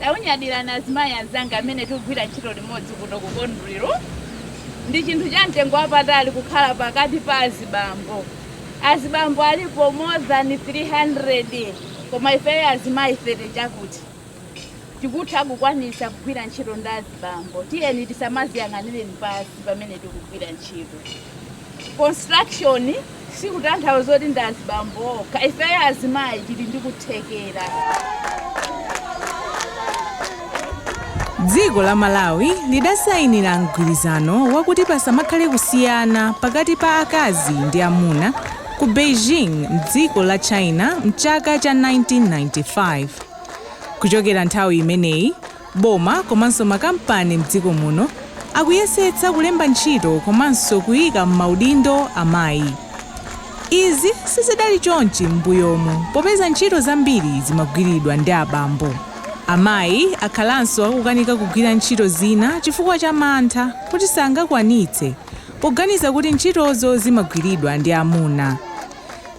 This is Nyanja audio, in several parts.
Takunyadirani azimayi anzanga amene tikugwira ntchito limodzi kuno ku Conduril. Ndi chinthu cha mtengo wapatali kukhala pakati pa azibambo. Azibambo alipo more than 300 koma ifeyo azimayi 30 chakuti tikutha kukwanisa kugwira ntchito ndi azibambo. Tiyeni tisamaziyang'anire pansi pamene tikugwira ntchito. construction sikutanthauza kuti ndi azibambo okha ifeyo azimayi tili ndi kuthekera dziko la malawi lidasayinira mgwirizano wakuti pasamakhale kusiyana pakati pa akazi ndi amuna ku beijing mdziko la china mchaka cha 1995 kuchokera nthawi imeneyi Boma komanso makampani mdziko muno akuyesetsa kulemba ntchito komanso kuika mmaudindo amayi. Izi sizidali chonchi mmbuyomu popeza ntchito zambiri zimagwiridwa ndi abambo. Amayi akhalanso akukanika kugwira ntchito zina chifukwa cha mantha kuti sangakwanitse poganiza kuti ntchitozo zimagwiridwa ndi amuna.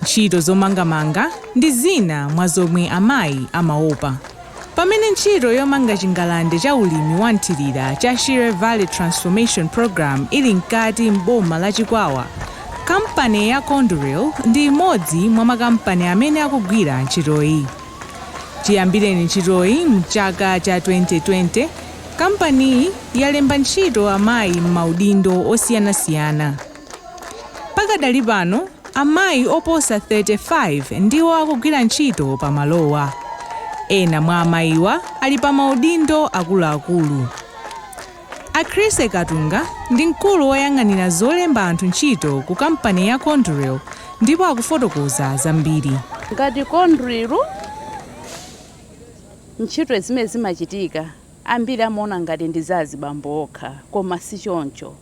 Ntchito zomangamanga ndi zina mwa zomwe amayi amaopa. Pamene ntchito yomanga chingalande cha ulimi wa mthirira cha Shire Valley Transformation Programme ili mkati m'boma la Chikwawa, kampani ya Conduril ndi imodzi mwa makampani amene akugwira ntchitoyi. Chiyambireni ntchitoyi mchaka cha 2020, kampaniyi yalemba ntchito amayi m'maudindo osiyanasiyana. Pakadali pano, amayi oposa 35 ndiwo akugwira ntchito pa malowa. Ena mwa amayiwa ali pa maudindo akuluakulu. A Chrissy Katunga ndi mkulu woyang'anira zolemba anthu ntchito ku kampani ya Conduril ndipo akufotokoza zambiri. Ngati Conduril, ntchito zimene zimachitika ambiri amaona ngati ndi za azibambo okha koma si choncho.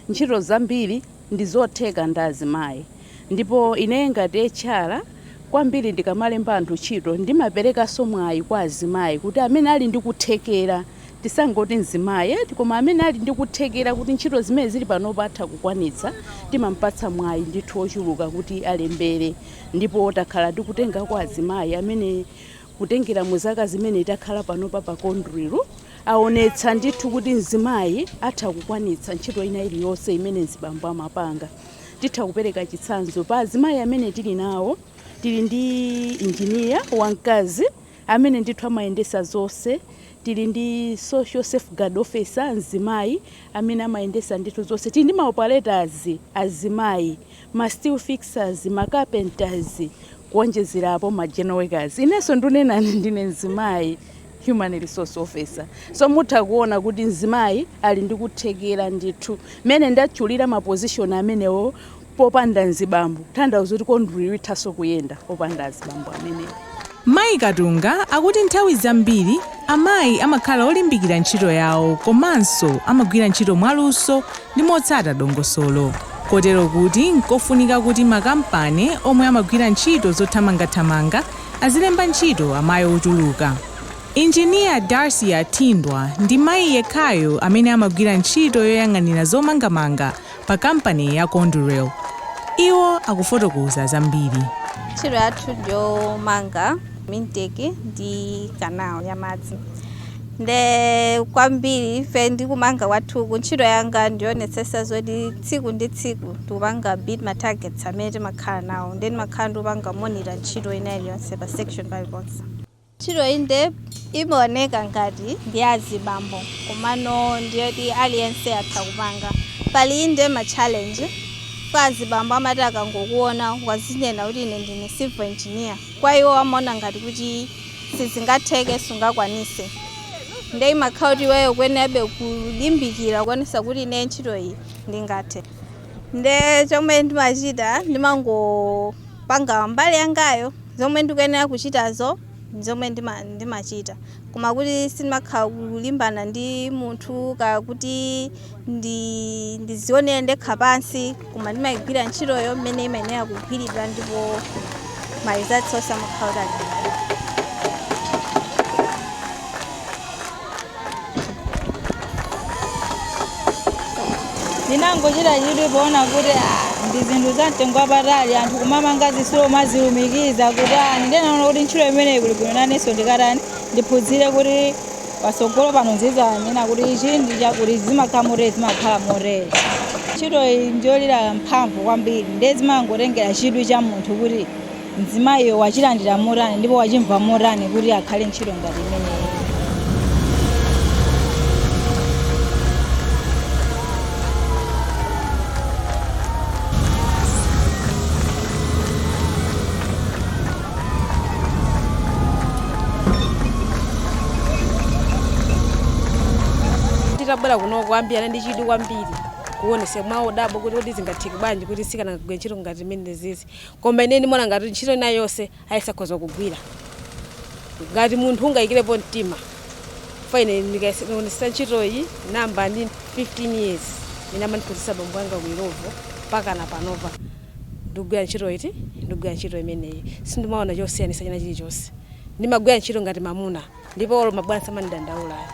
Ntchito zambiri ndizotheka ndi azimayi ndipo ineyo ngati HR kwambiri ndikamalemba anthu ntchito ndimaperekanso mwayi kwa azimayi kuti amene ali ndi kuthekera, tisangoti mzimayi eti, koma amene ali ndi kuthekera kuti ntchito zimene zili panopa atha kukwanitsa timampatsa mwayi ndithu wochuluka kuti alembere ndipo takhala tikutengako azimayi amene Kutengera mu zaka zimene takhala panopa pa Conduril aonetsa ndithu kuti mzimayi atha kukwanitsa ntchito ina iliyonse imene mzibambo amapanga. Titha kupereka chitsanzo pa azimayi amene tili nawo tili ndi engineer wamkazi amene ndithu amayendesa zonse, tili ndi social safeguard officer mzimayi amene amayendesa ndithu zonse, tili ndi ma operators azimayi. ma steel fixers, ma carpenters kuonjezerapo ma general workers. Inenso ndunena ndine mzimayi human resource officer. So mutha kuona kuti mzimayi ali ndi kuthekera ndithu. Mene ndatchulira ma position amenewo popanda mzibambo, tanthauza kuti Conduril ithanso kuyenda opanda azibambo amenewo. Mayi Katunga akuti nthawi zambiri amayi amakhala olimbikira ntchito yawo komanso amagwira ntchito mwaluso ndi motsata dongosolo kotero kuti nkofunika kuti makampani omwe amagwira ntchito zothamangathamanga azilemba ntchito amayi ochuluka. Injiniya Darcia Thindwa ndi mayi yekhayo amene amagwira ntchito yoyang'anira zomangamanga pa kampani ya Conduril. Iwo akufotokoza zambiri. Ntchito yathu ndiyomanga intake ndi canal ya madzi nde kwambiri ife ndi kumanga kwathu ku ntchito yanga ndiyonetsetsa zoti tsiku ndi tsiku tikupanga beat ma targets amene timakhala nawo nde ndimakhala ndikupanga monitor ntchito ina iliyonse pa section paliponse Ntchito inde imaoneka ngati ndi ya azibambo komano ndi yoti aliyense atha kupanga. Pali inde ma challenge, kwa azibambo amati akangokuona ukuzinena kuti ine ndine civil engineer, kwa iwo amaona ngati kuti sizingatheke sungakwanise nde imakhala kuti iweyo ukuyenerabe kulimbikira kuonesa kuti ineyo ntchito iyi ndingathe. nde chomwe ndimachita ndimangopanga mbali yangayo zomwe ndikuyenera kuchitazo zomwe ndimachita koma kuti sindimakhala kulimbana ndi munthu kaya kuti ndizionere ndekha pansi koma ndimayigwira ntchitoyo mmene imayenera kugwiridwa ndipo ma results onse amakhala kuti ali ndinangochita chidwi poona kuti ah, ndi zinthu za mtengo wapatali anthu kumamanga zisulo kumazilumikiza kutani, ndinaona kuti ntchito imeneyi kuli bwino nanenso ndikatani ndiphunzire kuti patsogolo pano ndizanena kuti ichi ndi chakuti zimakhala motere zimakhala motere ntchito iyi njolira mphamvu kwambiri ndiye zimangotengera chidwi cha munthu kuti mzimayiyo wachilandira motani ndipo wachimva motani kuti akhale ntchito ngati imeneyi titabwera kuno ambiri anali ndi chidwi kwambiri kuonesa mwa odabwa kuti zingatheke bwanji kuti mtsikana agwire ntchito ngati imene zizi Koma ine ndimona ngati ntchito ina yonse aliyense akhoza kugwira ngati munthu ungayikirepo mtima for ine ndikaonetsa ntchitoyi ndayamba ndili 15 years ine amandiphunzitsa bambo anga ku Illovo mpaka na panova ndikugwira ntchito iti ndikugwira ntchito imeneyi sindimaona chosiyanisa china chilichonse ndimagwira ntchito ngati mamuna ndipo olo mabwana samandidandaula ayi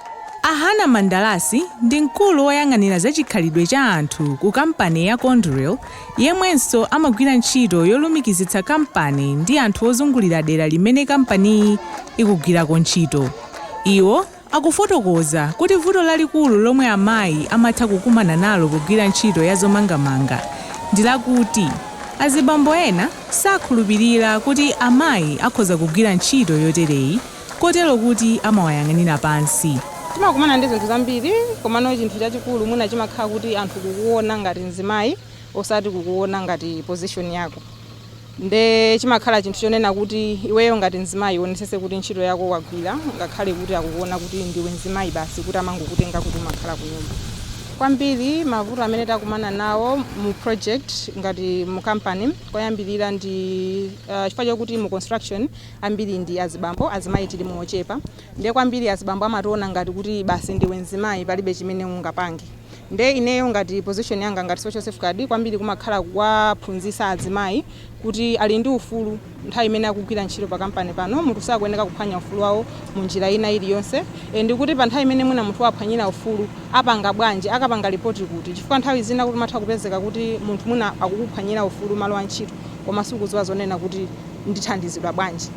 A Hana Mandalasi ndi mkulu woyang'anira za chikhalidwe cha anthu ku kampani ya Conduril yemwenso amagwira ntchito yolumikizitsa kampani ndi anthu ozungulira dera limene kampaniyi ikugwirako ntchito. Iwo akufotokoza kuti vuto lalikulu lomwe amayi amatha kukumana nalo kugwira ntchito ya zomangamanga ndi lakuti azibambo ena sakhulupirira kuti amayi akhoza kugwira ntchito yotereyi kotero kuti amawayang'anira pansi. Timakumana ndi zinthu zambiri komano chinthu chachikulu mwina chimakhala kuti anthu kukuona ngati mzimayi osati kukuona ngati position yako nde chimakhala chinthu chonena kuti iweyo ngati mzimayi uonesese kuti ntchito yako wagwira ngakhale kuti akukuona kuti ndiwe mzimayi basi kuti amangokutenga kuti umakhala kunyumba. kwambiri mavuto amene takumana nawo mu project ngati mu company koyambirira ndi uh, chifukwa chokuti mu construction ambiri ndi azibambo azimayi tilimo ochepa ndiye kwambiri azibambo amationa ngati kuti basi ndiwe mzimayi palibe chimene ungapange nde ineyo ngati position yanga ngati social safeguard kwambiri kumakhala kuwaphunzisa azimayi kuti ali ndi ufulu nthawi imene akugwira ntchito pa kampani pano munthu sakuyeneka kuphwanya ufulu wawo mu njira ina iliyonse and kuti pa nthawi imene mwina munthu waphwanyira ufulu apanga bwanji, akapanga report kuti chifukwa nthawi zina kuti umatha kupezeka kuti munthu mwina akukuphwanyira ufulu mmalo a ntchito koma sukuziwa zonena kuti ndithandizidwa bwanji.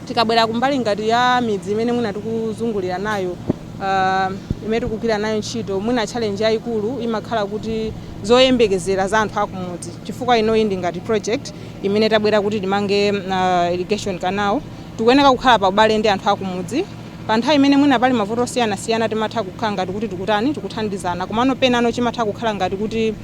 Tikabwera ku mbali ngati ya midzi imene mwina tikuzungulira nayo uh, imene tikugwira nayo ntchito mwina challenge yayikulu imakhala kuti zoyembekezera za anthu akumudzi chifukwa inoyi ndi ngati project imene tabwera kuti timange irrigation canal tikuyeneka kukhala pa ubale ndi anthu akumudzi pa nthawi imene mwina pali mavuto osiyanasiyana timatha kukhala ngati kuti tikutani tikuthandizana komano penano chimatha kukhala ngati kuti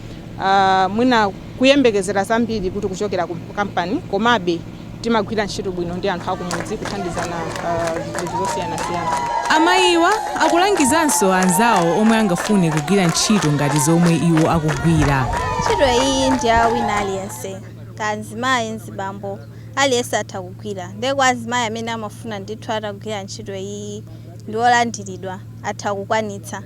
mwina kuyembekezera zambiri kuti kuchokera ku kampani komabe Timagwira ntchito bwino ndi anthu akumudzi kuthandizana pa zinthu zosiyanasiyana. Amayiwa akulangizanso anzawo omwe angafune kugwira ntchito ngati zomwe iwo akugwira. Ntchito iyiyi ndi ya wina aliyense kaya mzimayi, mzibambo aliyense atha kugwira nde kwa azimayi amene amafuna ndithu atagwira ntchito iyiyi ndi olandiridwa atha kukwanitsa.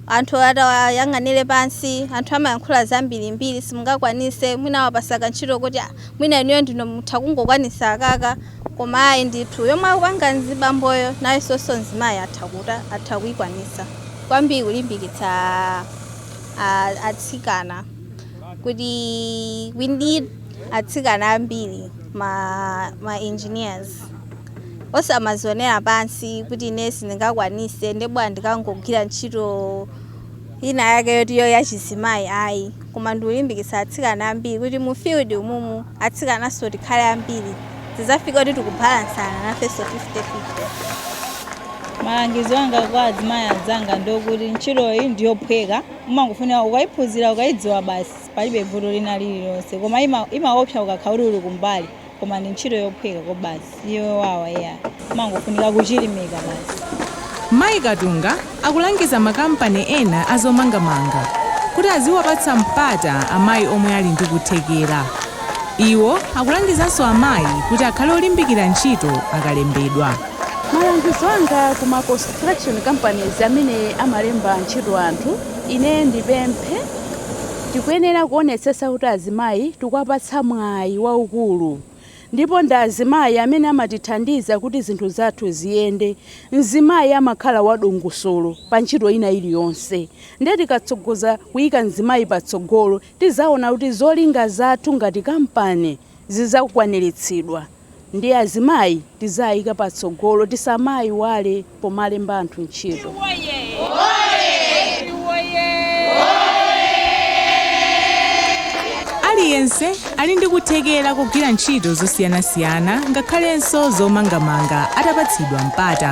Anthu adzawayang'anira pansi, anthu amayankhula zambirimbiri simungakwanise mwina awapatsa kantchito koti. mwina inuyo ndinu mutha kungokwanisa akaka koma ayi ndithu yomwe akupanga mzibamboyo nayesonso mzimayi atha kuta atha kuikwanisa kwambiri kulimbikitsa atsikana kuti we need atsikana ambiri ma, ma engineers osamazionera pansi kuti ine sindingakwanise nde bwa ndikangogwira ntchito ina yake yoti yo yachizimayi ayi koma ndikulimbikitsa atsikana ambiri kuti mu field umumu atsikananso tikhale ambiri tizafike kuti tikubalansana nafenso 50 50. Malangizo anga kwa azimayi anzanga ndiokuti ntchitoyi ndiyophweka umangofunika ukaiphunzira ukaidziwa basi palibe vuto lina lililonse koma imaopsa ukakhala kuti uli kumbali. koma ndi ntchito yophweka kobasi si yowawa ayi umangofunika kuchilimika basi Mayi Katunga akulangiza makampani ena a zomangamanga kuti aziwapatsa mpata amayi omwe ali ndi kuthekera. Iwo akulangizanso amayi kuti akhale olimbikira ntchito akalembedwa. Malangizo anga ku ma construction companies amene amalemba ntchito anthu, ine ndipemphe. Tikuyenera kuonetsetsa kuti azimayi tikuwapatsa mwayi waukulu ndipo ndi azimayi amene amatithandiza kuti zinthu zathu ziyende. Mzimayi amakhala wadongosolo pa ntchito ina iliyonse nde tikatsogoza kuyika mzimayi patsogolo tizaona kuti zolinga zathu ngati kampani. zizakwanilitsidwa ndiye azimayi tiziwayika patsogolo tisamawayiwale pomalemba anthu ntchito. Aliyense ali ndi kuthekera kogwira ntchito zosiyanasiyana ngakhalenso zomangamanga atapatsidwa mpata.